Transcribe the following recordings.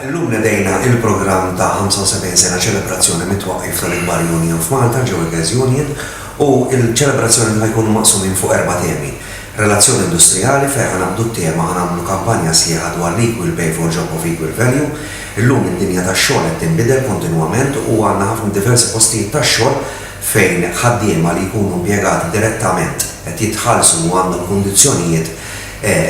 Illum nedejna il-programm ta' 75 sena ċelebrazzjoni mit-twaqqif tal-ikbar union f'Malta, Joegas Union, u l-ċelebrazzjoni ħa jkunu maqsumin fuq erba' temi. Relazzjoni industrijali fejn ħa naqbdu t-tema ħa nagħmlu kampanja sħiħa dwar l-equal pay for job of equal value. Illum id-dinja tax-xogħol qed tinbidel kontinwament u għandna ħafna diversi postijiet tax-xogħol fejn ħaddiema li jkunu impjegati direttament qed jitħallsu u għandhom kundizzjonijiet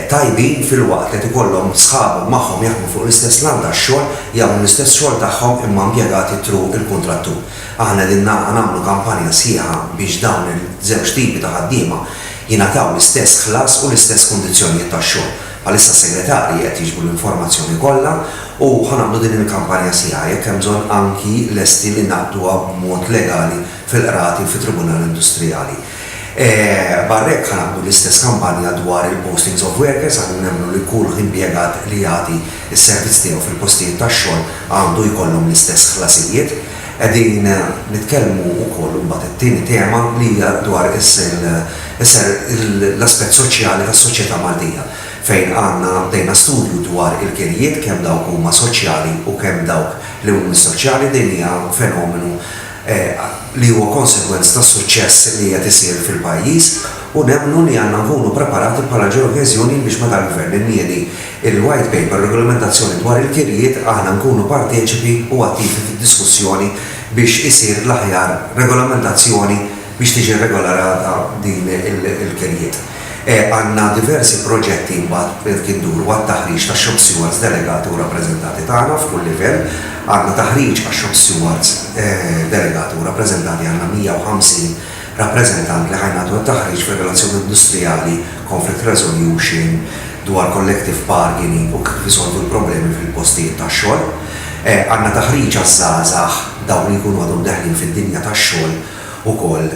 tajbin filwaqt li qed ikollhom sħabhom magħhom jaħdmu fuq l-istess lan tax-xogħol, jagħmlu l-istess xogħol tagħhom imma impjegati thru l-kuntrattur. Aħna qegħdin nagħmlu kampanja sħiħa biex dawn iż-żewġ tipi ta' ħaddiema jingħataw l-istess ħlas u l-istess kundizzjonijiet tax-xogħol. Bħalissa s-segretarji qed jiġbru l-informazzjoni kollha u ħa nagħmlu din il-kampanja sħiħa, jekk hemm bżonn anki lesti li ngħaqduha b'mod legali fil-qrati u fit-Tribunal Industrijali. Barra hekk ħa nagħmlu l-istess kampanja dwar il-postings of workers għaliex nemmnu li kull impjegat li jagħti s-servizz tiegħu fil-postijiet tax-xogħol għandu jkollhom l-istess ħlasijiet. Qegħdin nitkellmu wkoll imbagħad it-tieni tema li hija dwar l-aspett soċjali tas-soċjetà Maltija fejn għandna bdejna studju dwar il-kirjiet kemm dawk huma soċjali u kemm dawk li mhumiex soċjali din hija fenomenu li huwa konsegwenz tas-suċċess li qiegħed isir fil-pajjiż u nemmnu li għandna nkunu preparati bħala ġeokeżjoni biex meta l-Gvern inniedi l-White Paper Regolamentazzjoni dwar il-Kirjiet aħna nkunu parteċipi u attivi fid-diskussjoni biex isir l-aħjar regolamentazzjoni biex tiġi rregolarata din il-kirjiet. Għandna diversi proġetti mbagħad kif duru għat-taħriġ tax-shop stewards delegati u rappreżentati tagħna f'kull livell. Għandna taħriġ għax-shop stewards delegati u rappreżentati, għandna 150 rappreżentant li ħa jnagħtu t-taħriġ fir-relazzjoni industrijali, conflict resolution, dwar collective bargaining u kif isolvu l-problemi fil-postijiet tax-xogħol. Għandna taħriġ għaż-żgħażagħ, dawk li jkunu għadhom deħlin fid-dinja tax-xogħol, ukoll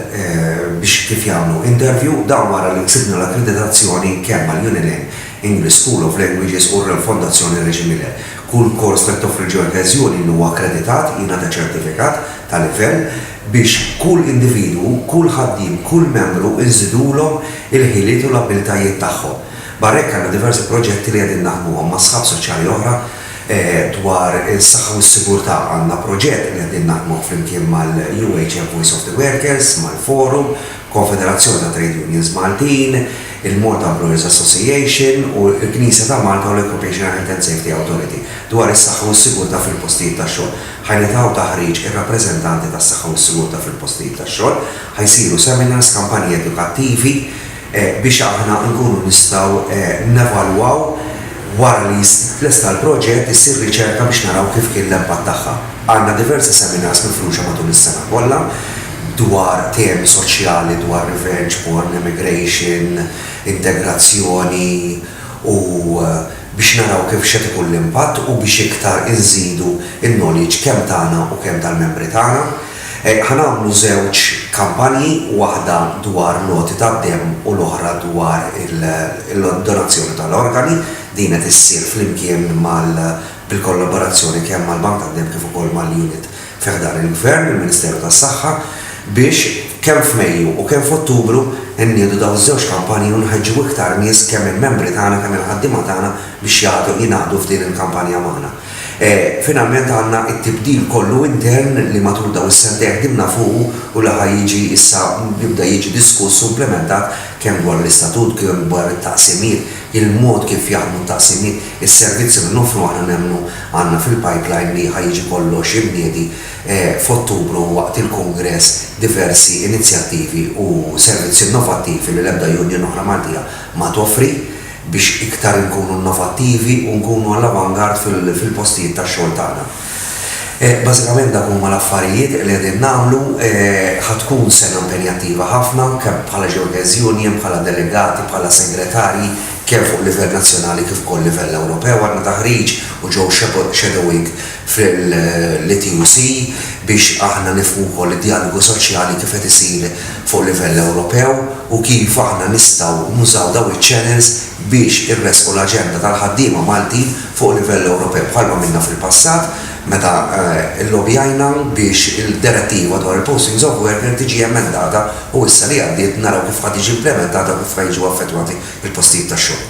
biex kif jagħmlu interview. Dan wara li ksibna l-akkreditazzjoni kemm għall-Unilin, English School of Languages u r-Fondazzjoni Reġi Miller. Kull kors li toffri l-Georges Unilin huwa akkreditat, jingħata ċertifikat ta' livell biex kull individwu, kull ħaddiem, kull membru nżidulhom il-ħiliet u l-abbiltajiet tagħhom. Barra hekk għandna diversi proġetti li qegħdin naħdmuhom ma' sħab soċjali oħra dwar is-saħħa u s-sigurtà għandna proġett li qegħdin naħdmuh flimkien mal-UHM Voice of the Workers, mal-Forum, Konfederazzjoni ta' Trade Unions Maltin, il-Malta Employers Association u l-Knisja ta' Malta u l-Occupational Health and Safety Authority dwar is-saħħa u s-sigurtà fil-postijiet tax-xogħol. Ħa jingħataw taħriġ ir-rappreżentanti tas-saħħa u s-sigurtà fil-postijiet tax-xogħol, ħa jsiru seminars, kampanji edukattivi, biex aħna nkunu nistgħu nevalwaw wara li jitlesta l-proġett issir riċerka biex naraw kif kien l-impatt tagħha. Għandna diversi seminars mifruxa matul is-sena kollha dwar temi soċjali dwar revenge porn, emigration, integrazzjoni u biex naraw kif x'qed ikun l-impatt u biex iktar inżidu n-knowledge kemm tagħna u kemm tal-membri tagħna. Ħa nagħmlu żewġ kampanji, waħda dwar l-għoti tad-demm u l-oħra dwar il-donazzjoni tal-organi. Din qed issir flimkien mal bil-kollaborazzjoni kemm mal-Bank tad-Demm kif ukoll mal-unit fi ħdan il-Gvern, il-Ministeru tas-Saħħa, biex kemm f'Mejju u kemm f'Ottubru nniedu dawn iż-żewġ kampanji u nħeġġu iktar nies kemm il-membri tagħna kemm il-ħaddiema tagħna biex jagħtu jingħaqdu f'din il-kampanja magħna. E, finalment għandna t-tibdil kollu intern li matul dawn is-sentejn ħdimna fuqu u li ħa jiġi issa jibda jiġi diskuss u implementat kemm dwar l-istatut, kemm dwar it-taqsimiet, il-mod kif jaħdmu t-taqsimiet, is-servizzi li noffru aħna nemmnu għandna fil-pipeline li ħa jiġi kollox imniedi e, f'Ottubru waqt il-kungress diversi inizjattivi u servizzi innovattivi li l-ebda union oħra Maltija ma toffri. biex iktar inkunu innovattivi u nkunu għall-avant-garde fil-postijiet tax-xogħol tagħna. Bażikament dawk huma l-affarijiet li qegħdin nagħmlu. Ħa tkun sena impenjattiva ħafna, kemm bħala Xhorters Union, bħala delegati, bħala segretarji, kemm fuq livell nazzjonali kif ukoll livell Ewropew. Għandna taħriġ u ġew shadowing fil-ETUC biex aħna nifhmu wkoll id-djalogu soċjali kif qed isir fuq livell Ewropew u kif aħna nistgħu nużaw dawn iċ-channels biex irressqu l-aġenda tal-ħaddiema Maltin fuq livell Ewropew bħal ma minna fil-passat meta llobbjajna biex il-Direttiva dwar il-Postings of Worker tiġi emendata u issa li għaddiet naraw kif ħa tiġi implimentata u kif ħa jiġu affettwati l-postijiet tax-xogħol.